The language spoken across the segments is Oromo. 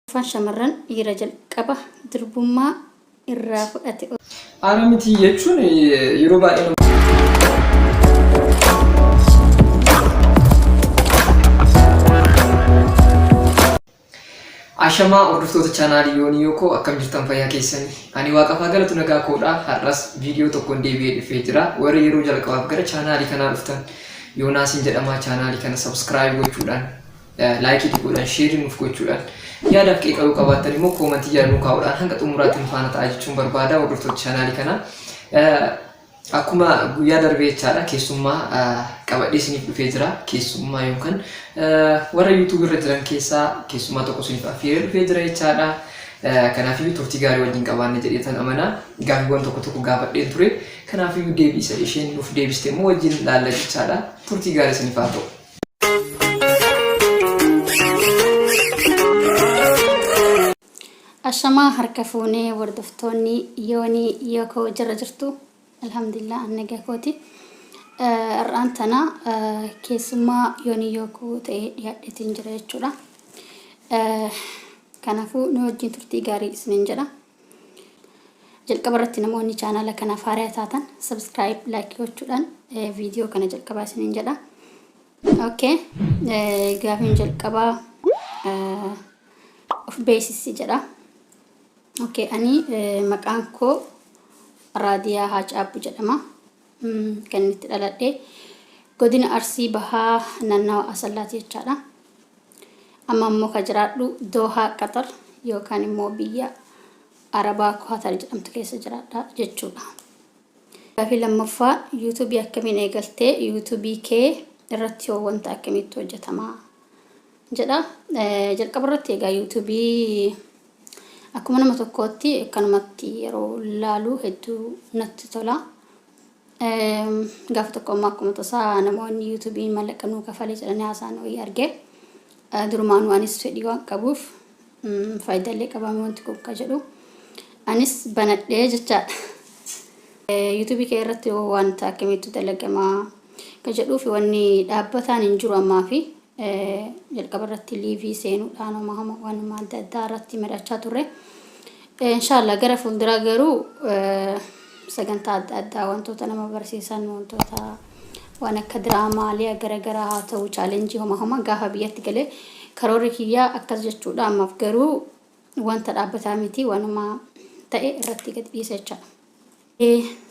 Afaan shamarran dhiira jalqaba durbummaa irraa fudhate. Ana miti jechuun yeroo baay'ee nama. Ashamaa hordoftoota chaanaalii yoonii yookoo akkam jirtan fayyaa keessanii ani waaqafaa galatu nagaa koodha har'as viidiyoo tokkoon deebi'ee dhufee jira warri yeroo jalqabaaf gara chaanaalii kanaa dhuftan yoonaasiin jedhamaa chaanaalii kana sabskiraayib gochuudhaan Laayikii tuquudhaan, sheerii nuuf gochuudhaan, yaadaaf qeeqa yoo qabaattan immoo koomantii jala nuu kaa'uudhaan hanga xumuraatti nu faana ta'aa jechuun barbaada hordoftoota chaanaalii kanaa. Akkuma guyyaa darbee jechaadha keessummaa qabadhee isiniif dhufee jira. Keessummaa yookaan warra YouTube irra jiran keessaa keessummaa tokko isiniif affeeree dhufee jira jechaadha. Kanaafiyyuu turtii gaarii wajjin qabaanne jedheetan amana. Gaaffiiwwan tokko tokko gaafadheen ture. Kanaafiyyuu deebii isa isheen nuuf deebiste immoo wajjin laalla jechaadha. Turtii gaarii isiniif haa ta'u. Ashamaa harka fuunee hordoftoonni yoonii yookoo jira jirtu alhamdulillah annagaa kooti har'aan tana keessummaa yoonii yookoo ta'ee dhiyaadheetiin jira jechuudha. Kanaafuu nu wajjin turtii gaarii isiniin jedha. Jalqaba irratti namoonni chaanaala kanaaf haaraa taatan subscribe like gochuudhaan viidiyoo kana jalqabaa isiniin jedha. Okay. Gaafiin jalqabaa of beeksisi jedha. Okay. Ani maqaan koo Raadiyaa Haacaabbu jedhama. Kan inni itti dhaladhe godina Arsii Bahaa naannawa Asallaati jechaadha. Amma immoo kan jiraadhu Doohaa Qaxar yookaan immoo biyya Arabaa Kuwaatar jedhamtu keessa jiraadha jechuudha. Gaafii lammaffaa yuutuubii akkamiin eegaltee yuutuubii kee irratti hoo wanta akkamiitti hojjetamaa? jedha. Jalqaba irratti egaa YouTube akkuma nama tokkootti akkanumatti yeroo laalu hedduu natti tola. Gaafa tokko ammoo akkuma tasaa namoonni YouTube'n mallaqa nuu kafale jedhanii haasaan wayii arge. Durumaanuu anis fedhii waan qabuuf Faayidaalee qabaa wanti kun ka jedhu anis banadhee jechaadha. Yuutuubii kee irratti hoo wanta akkamiitu dalagamaa ka jedhuu fi wanni dhaabbataan hin jiru ammaa fi jalqaba irratti liivii seenuudhaan homa homa waanuma adda addaa irratti mari'achaa turre. Inshallah gara fuulduraa garuu sagantaa adda addaa wantoota nama barsiisan wantoota waan akka diraamaa liya gara garaa haa ta'u chaalenjii homa homa gaafa biyyatti galee karoorri kiyyaa akkas jechuudha ammaaf garuu wanta dhaabbataa miti wanuma ta'e irratti gad dhiisa jechaadha.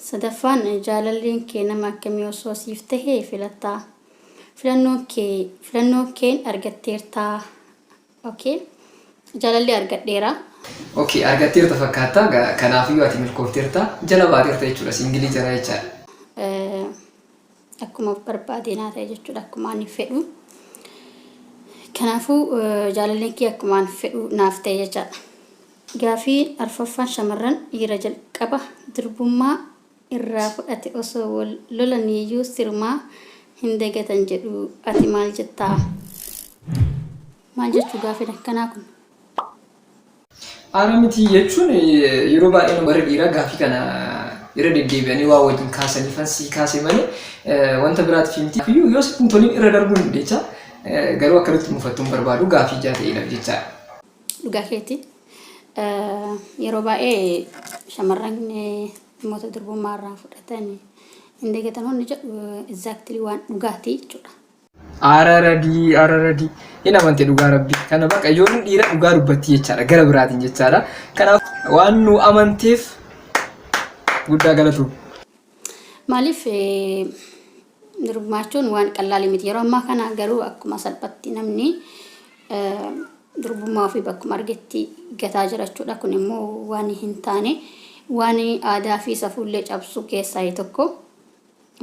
Sadaffaan jaalalleen kee nama akkamii osoo siif tahee filattaa? Filannoon kee filannoon keen argatteertaa? Ok. Jaalallee argadheera. Ok. Argatteerta fakkaatta. Kanaafiyyuu ati milkoofteerta. Jala baateerta jechuudha. Siingilii jara jechaadha. Akkuma barbaade naa ta'e jechuudha. Akkuma ani fedhu. Kanaafuu jaalalleen kiyya akkuma ani fedhu naaf ta'e jechaadha. Gaafii arfaffaan shamarran dhiira jalqaba durbummaa irraa fudhate osoo wal lolaniiyyuu sirumaa hin dagatan jedhu ati maal jettaa? Maal jechuu gaafin akkanaa kun? Haaraa miti jechuun yeroo baay'ee warri dhiiraa gaaffii kana irra deddeebi'anii waa wajjin kaasaniifan sii kaase malee wanta biraatiif miti. Kanaafuu yoo sitti hin tolin irra darbuu dandeecha garuu akka nutti mufattu hin barbaadu gaaffii ijaa ta'eedhaaf jechaadha. Dhugaa keeti Yeroo baay'ee shamarran dhimmoota durbummaa irraa fudhatan hin dagatan hundi jedhu exactly waan dhugaati jechuudha. Ara radii ara radii hin amante dhugaa rabbii kana baqa ijoolleen dhiira dhugaa dubbatti jechaadha gara biraatiin jechaadha kanaaf waan nu amanteef guddaa galatu. Maaliif Durbumaachuun waan qallaali miti. Yeroo ammaa kana garuu akkuma salphatti namni durbummaa ofii bakkuma argetti gataa jira jechuudha. Kun immoo waan hin taane waan aadaa fi safuullee cabsu keessaa tokko.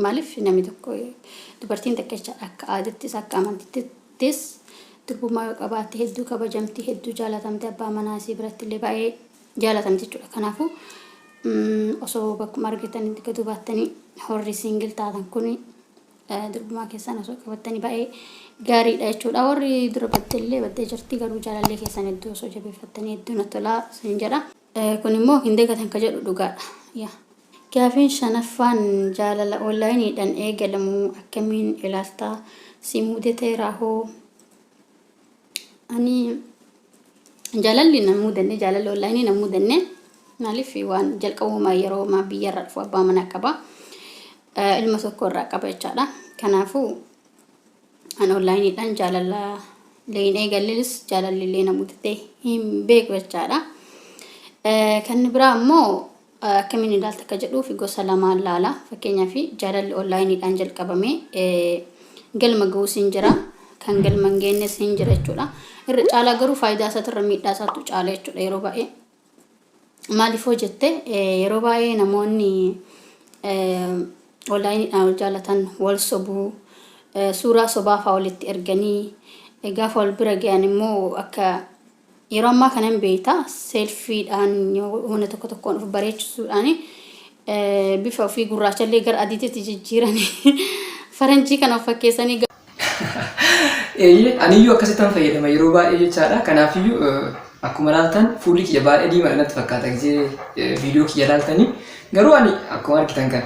Maaliif namni tokko dubartiin takka jechaadha akka aadattis akka amantittis durbummaa yoo qabaatte hedduu kabajamti hedduu jaalatamte abbaa manaa isii biratti illee baay'ee jaalatan jechuudha kanaafu osoo bakkuma argitan itti gaduu baattanii horri siingil taatan kun durbumaa keessan osoo qabattanii baay'ee gaariidha jechuudha warri dura baddellee baddee jirti garuu jaalallee keessan hedduu osoo jabeeffattanii hedduu na tolaa sin jedha kun immoo hin dagatan ka jedhu dhugaadha yaa Gaafiin shanaffaan jaalala onlaayiniidhaan eegalamu akkamiin ilaalta si muudeteeraa hoo ani jaalalli na mudanne jaalalli onlaayinii na mudanne maaliif waan jalqabuma yeroo maa biyyarraa dhufu abbaa manaa qaba eh, ilma tokko irraa qaba jechaadha kanaafuu an onlaayiniidhaan jaalala illee hin eegallis jaalalli illee na mudatee hin beeku jechaadha Eh, kan biraa immoo Akkamiin ilaalta akka jedhuuf gosa lamaan laala. Fakkeenyaaf jaalalli onlaayiniidhaan jalqabame galma ga'uus hin jira. Kan galma hin geenyes hin jira jechuudha. Irra caalaa garuu faayidaa isaatirra miidhaa isaatu caala jechuudha yeroo baay'ee. Maaliif hoo jette yeroo baay'ee namoonni onlaayiniidhaan wal jaalatan wal sobuu suuraa sobaa fa'aa walitti erganii gaafa wal bira ga'an immoo akka Yeroo ammaa kana hin beekta seelfiidhaan humna tokko tokkoon of bareechisuudhaan bifa ofii gurraachallee gara adiititti jijjiiranii faranjii kana of fakkeessanii Eeyyee aniyyuu akkasittan fayyadama yeroo baay'ee jechaadha. Kanaafiyyuu akkuma ilaaltan fuulli kiyya baay'ee diimaadha natti fakkaata gisee viidiyoo kiyya ilaaltanii. Garuu ani akkuma argitan kana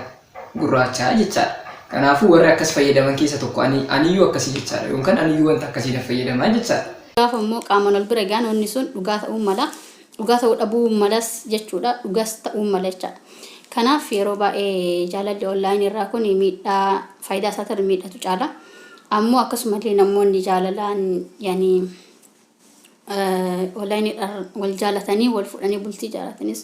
gurraacha jechaadha. Kanaafuu warri akkas fayyadaman keessa tokko ani aniyyuu akkasii jechaadha yookaan aniyyuu wanta akkasiidha fayyadamaa jechaadha. Gaafa immoo qaamaan wal bira gahan wanni sun dhugaa ta'uu mala. Dhugaa ta'uu dhabuu malas jechuudha. Dhugas ta'uu mala jechaadha. Kanaaf yeroo baay'ee jaalalli online irraa kun miidhaa faayidaa isaatiin miidhatu caala. Ammoo akkasumallee namoonni jaalalaan yani onlineedhaan wal jaalatanii wal fuudhanii bultii ijaaratanis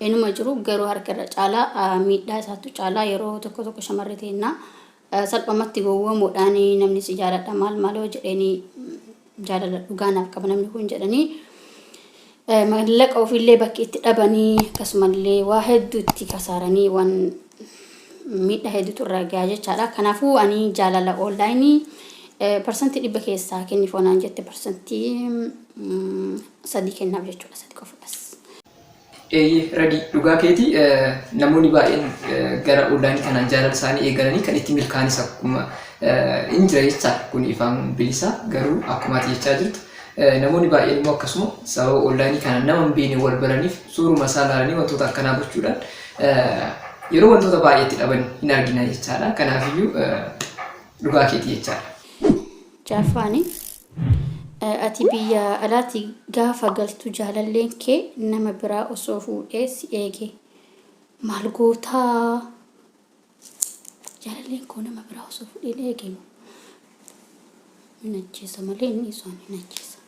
inuma jiru garuu harka irra caalaa miidhaa isaattu caalaa yeroo tokko tokko shamarri teennaa salphamatti gowwoomuudhaan namni si jaaladha maal maaloo jedheenii jaalala dhugaa naaf qaba namni kun jedhanii mallaqa ofiillee bakki itti dhabanii akkasumallee waa hedduutti kasaaranii waan miidhaa hedduutu irra gahaa jechaadha. Kanaafuu ani jaalala oonlaayinii parsantii dhibba keessaa kenniif onaan jette parsantii sadii kennaaf jechuudha sadii qofa bas. Eeyyee radii dhugaa keetii namoonni baay'een gara oonlaayinii kanaan jaalala isaanii eegalanii kan itti milkaanis akkuma hin jira jechaa kun ifaan bilisaa garuu akkuma ati jechaa jirtu namoonni baay'een immoo akkasuma sababa oonlaayinii kanaan nama hin beekne wal baraniif suuruma isaa ilaalanii wantoota akkanaa gochuudhaan yeroo wantoota baay'eetti dhaban hin argina jechaadha. Kanaafiyyuu dhugaa keetii jechaadha. Jaaffaani ati biyya alaati gaafa galtu jaalalleen kee nama biraa osoo fuudhee si eege maal gootaa? Jaalalleen koo nama biraa osoo fudhee na eege immoo hin ajjeesa malee inni isaan hin ajjeesa.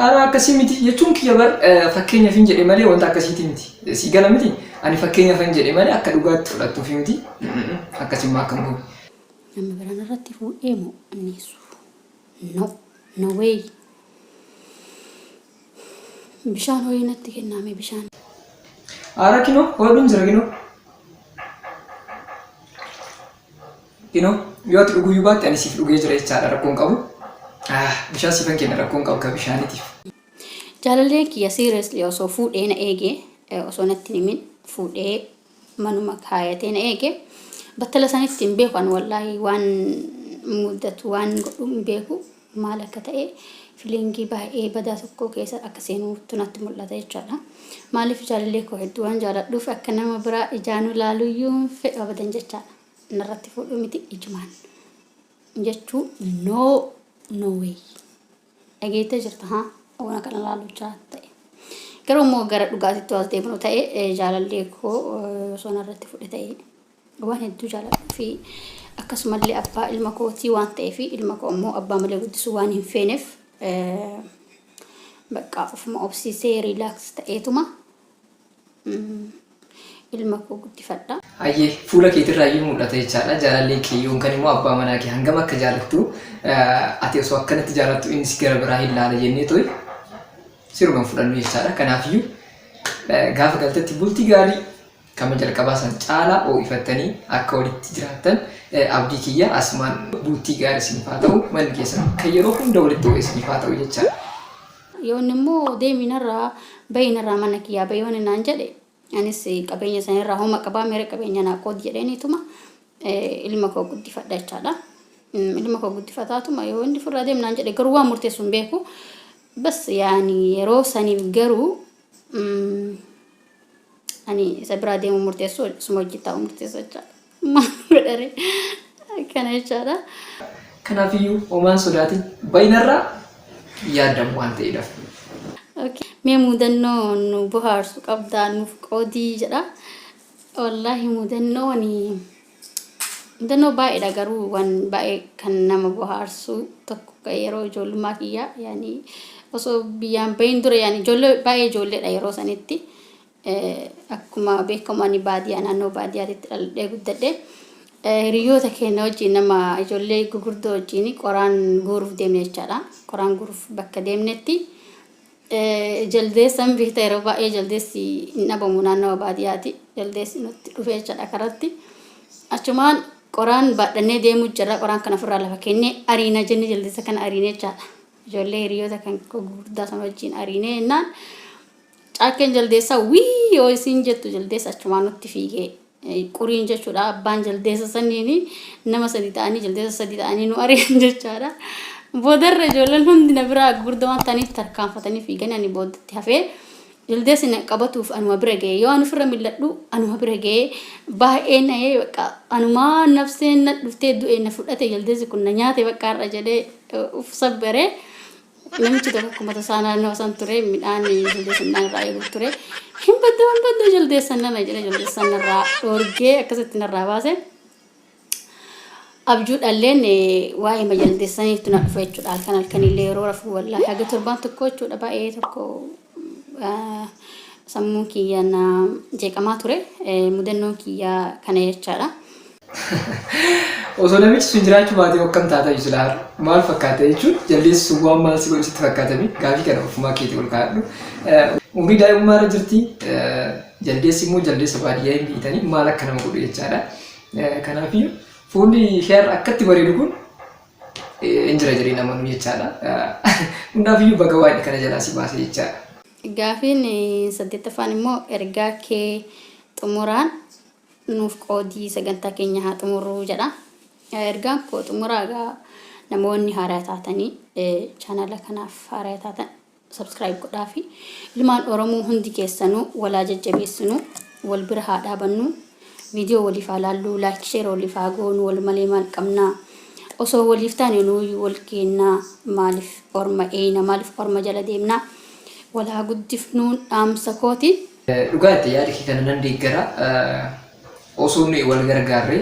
Aaraa akkasii miti jechuun kiyya bar fakkeenyaaf hin jedhe malee wanta akkasiiti miti. Sii gala miti ani fakkeenyaaf hin jedhe malee akka dhugaatti fudhattuuf miti. Akkasummaa akkam goone. Nama biraan irratti fuudhee moo anneessu? No, no way. Bishaan ho'ee natti kennaame bishaan. Aara kinoo hoodhuun jira kinoo. Kinoo yoo ati dhuguu iyyuu baatte ani siif dhugee jira jechaadha rakkoon qabu. Ah, Bishaan siifan kenna rakkoon qabu ka bishaanitiif. Jaalalleen kiyya seriously osoo fuudhee na eege eh, osoo natti hin himin fuudhee manuma kaayatee na eege battala sanitti hin beeku an wallaahi waan mudatu waan godhu hin beeku maal akka ta'e filiingii baay'ee badaa tokkoo keessa akka seenuuttu natti mul'ata jechaadha. Maaliif jaalallee koo hedduu waan jaaladhuuf akka nama biraa ijaanuu laaluuyyuu hin fedhu abadan jechaadha. Narratti fuudhuu miti ijumaan jechuu no no way. Dhageettee jirta haa waan kana laaluuchaa ta'e. Garuu immoo gara dhugaatitti waas deebinu ta'e jaalallee koo osoo narratti fuudhe ta'e. waan hedduu jaaladhuu fi akkasumallee abbaa ilma kootii waan ta'eef ilma koo immoo abbaa malee guddisuu waan hin feeneef baqqaa ofuma obsiisee riilaaks ta'eetuma ilma koo guddifadha. Hayyee fuula keetirraa iyyuu mul'ata jechaadha. Jaalallee kee yookaan immoo abbaa manaa kee hangam akka jaalattu ati osoo akkanatti jaalattu innis gara biraa hin laala jennee to'i siruma fudhannu jechaadha. Kanaafiyyuu gaafa galtetti bultii gaarii Kama jalqabaa san caalaa hoo'ifattanii akka walitti jiraattan abdii kiyya. Asumaan bultii gaarii isiniif haa ta'u. Manni keessan kan yeroo hunda walitti hoo'e isiniif haa ta'u jechaa. Yoonni immoo deemi narraa bahi narraa mana kiyyaa bahi yoonni naan jedhe anis qabeenya san irraa homa qabaa meera qabeenya naa qoodi jedheeniituma ilma koo guddifadha jechaadha. Ilma koo guddifataatuma yoo inni furraa deem naan jedhe garuu waan murteessu hin beeku. Bas yaani yeroo saniif garuu ani isa biraa deemuu murteessu suma wajjin taa'uu murteessa jechaadha. Maal godhare akkana jechaadha. Kanaafiyyuu homaan sodaatiin baay'inarraa yaadamu waan ta'eedhaaf. Okay. Mee mudannoo nu bohaarsu qabdaa nuuf qoodii jedha. Wallaahi mudannoo ani Mudannoo baay'eedha garuu waan baay'ee kan nama bohaarsu tokko kan yeroo ijoollummaa kiyyaa yaani osoo biyyaan bahin dura yaani ijoollee baay'ee ijoolleedha yeroo sanitti Eh, akkuma beekamu ani baadiyaa naannoo baadiyyaatitti dhaladhee guddadhe Eh, hiriyoota keenya wajjin nama ijoollee gugurdoo wajjin qoraan guuruuf deemne jechaadha qoraan guuruuf bakka deemnetti Jaldeessan bifta yeroo baay'ee jaldeessi hin dhabamu naannawa baadiyaati. Jaldeessi nutti dhufee jechaadha karatti. Achumaan qoraan baadhannee deemuu jirra. Qoraan kana ofirraa lafa kennee ariina jenne jaldeessa kana ariine jechaadha. Ijoollee hiriyoota kan gurguddaa sana wajjin ariine jennaan caakkeen jaldeessaa wii yoo isin jettu jaldeessa achumaan nutti fiigee Quriin jechuudha abbaan jaldeessa sanniini. Nama sadii ta'anii jaldeessa sadii ta'anii nu ari'an jechaadha. Boodarra ijoolleen hundi na biraa gurguddaa waan ta'aniif tarkaanfatanii fiiganii ani booddatti hafee jaldeessi na qabatuuf anuma bira ga'e. Yoo ani ofirra mil'adhu anuma bira ga'e. Baay'ee na'ee bakka anumaa nafseen na dhuftee du'e na fudhate jaldeessi kun na nyaate bakka har'a jedhee uf sabbare. Namichi tokko akkuma tasaa naannoo san ture midhaan jaldeessan midhaan irraa eeguuf ture. Hin baddu hin baddu jaldeessan nana jedhe jaldeessan narraa dhoorgee akkasitti narraa baase. Abjuu dhalleen waa'ee majaldeessaniitu na dhufa jechuudha halkan halkanillee yeroo rafuu wallaahi haga torbaan tokko jechuudha baay'ee tokko Sammuun kiyya na jeeqamaa ture. Mudannoon kiyya kana jechaadha. Osoo namichi sun jiraachuu baatee akkam taatayu sila har'a? Maal fakkaata jechuun jaldeessi sun waan maal si godhu sitti fakkaatame gaafii kana ofumaa keetii ol kaa'adhu. Umrii daa'imummaa irra jirti. Jaldeessi immoo jaldeessa baadiyyaa hin beektanii maal akka nama godhu jechaadha. Kanaafiyyuu fuulli ishee har'a akkatti bareedu kun hin jira jedhee namanuu jechaadha. Hundaafiyyuu baga waaqni kana jalaa si baase jechaadha. Gaafiin saddeettaffaan immoo ergaa kee xumuraan nuuf qoodii sagantaa keenya haa xumurruu jedha. Ergaan koo xumuraa egaa namoonni haaraa taatanii chaanala kanaaf haaraa taatan subscribe godhaafi ilmaan oromoo hundi keessanuu walaa jajjabeessinu wal bira haa dhaabannu viidiyoo waliif haa laalluu laayik sheer waliif haa goonu wal malee maal qabna osoo waliif taane nuuyyuu wal keennaa maaliif orma eeyna maaliif orma jala deemna wal haa guddifnuun dhaamsa kooti Dhugaa jette yaada kee kana nan deeggara osoo nuyi wal gargaarre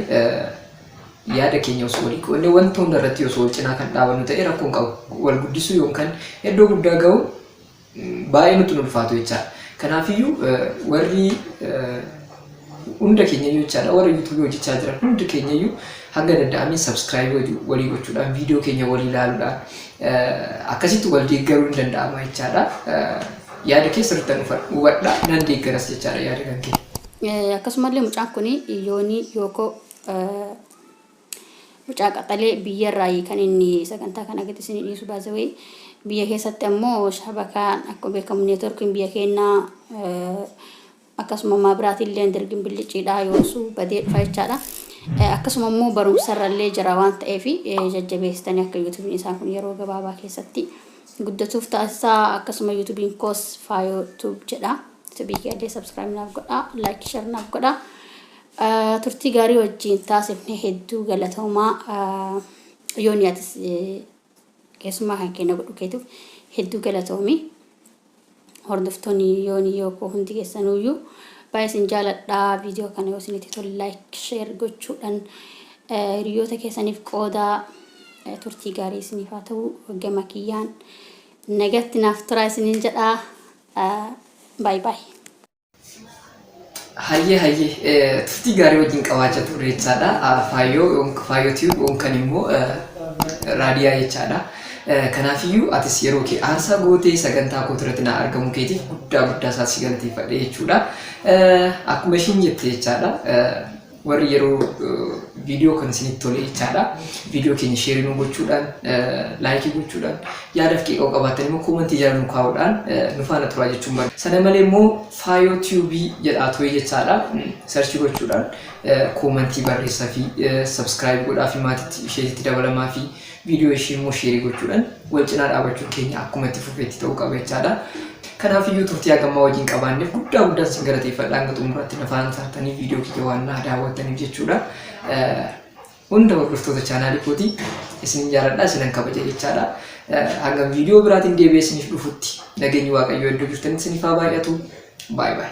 yaada keenya osoo walii qoodne wanta hunda irratti osoo wal cinaa kan dhaabannu ta'e rakkoon qabu wal guddisuu yookaan iddoo guddaa ga'uun baay'ee nutti hin ulfaatu jechaadha. Kanaafiyyuu warri hunda keenyayyuu jechaadha warri yuutuubii hojjechaa jiran hundi keenyayyuu hanga danda'ameen sabskiraayibii walii gochuudhaan viidiyoo keenya walii ilaaluudhaan akkasitti wal deeggaruun ni danda'ama jechaadha. Yaada kee sirrittan hubadha nan deeggaras jechaadha yaada kan kee. Akkasumallee mucaan kun yoonii yookoo mucaa qaxalee biyya irraa kan inni sagantaa kana gadi isin dhiisu baazawee biyya keessatti ammoo shabakaan akkuma beekamu neetworkiin biyya keenyaa Akkasuma ammaa biraatilleen dirgin billichiidhaa yoosu badee dhufa jechaadha. Akkasuma immoo barumsarrallee jira waan ta'eef jajjabeessitanii akka yuutubiin isaa kun yeroo gabaabaa keessatti guddatuuf taasisaa akkasuma yuutubiin koos faayoo tuub jedha. Yuutubii keellee sabskiraayib naaf godha laayik shar naaf godha. Turtii gaarii wajjin taasifne hedduu galatoomaa yoonii atis Keessummaa kan kee na godhu keetuf hedduu galatoomi. Hordoftoonni yooni yoo koo hundi keessanuuyyuu baay'ee isin jaaladha. Viidiyoo kana yoo isinitti tole like share gochuudhaan eh, hiriyoota keessaniif qoodaa eh, turtii gaarii isiniif haa ta'u gama kiyyaan nagatti naaf turaa isiniin jedha. Eh, Baay baay. Hayyee hayyee eh, turtii gaarii wajjin qabaachaa turre jechaadha. Ah, Faayyoo yoom- faayyoo tiyuub yookaan immoo eh, raadiyaa jechaadha. Eh, Kanaafiyyuu atis yeroo kee aarsaa gootee sagantaa koo irratti na argamu keetiif guddaa guddaa isaa si galateeffadhe jechuudha. Eh, Akkuma ishiin jette jechaadha. eh, warri yeroo viidiyoo kana isinitti tole jechaadha. Viidiyoo keenya sheerii nu gochuudhaan, laayikii gochuudhaan, yaadaaf qeeqoo qabaatan immoo koomantii jala nu kaa'uudhaan nu faana turaa jechuun barbaada. Sana malee immoo faayoo tiyuubii jedhaa turee jechaadha. Sarchii gochuudhaan koomantii barreessaa fi sabskiraayib godhaa fi maatiitti isheetitti dabalamaa fi viidiyoo ishii immoo sheerii gochuudhaan wal cinaa dhaabachuun keenya akkuma itti fufeetti ta'uu qaba jechaadha. Kanaaf iyyuu turtii hagammaa wajjin qabaanneef guddaa guddaan isin galateeffadha hanga xumuraatti na faana taatanii viidiyoo kiyya waan naa daawwattaniif jechuudha. Hunda hordoftoota chaanaalii kooti isin jaaladha isinan kabaja jechaadha. Hanga viidiyoo biraatiin deebi'ee isiniif dhufutti nageenyi waaqayyoo iddoo jirtanitti isiniif haa baay'atu. Baay baay.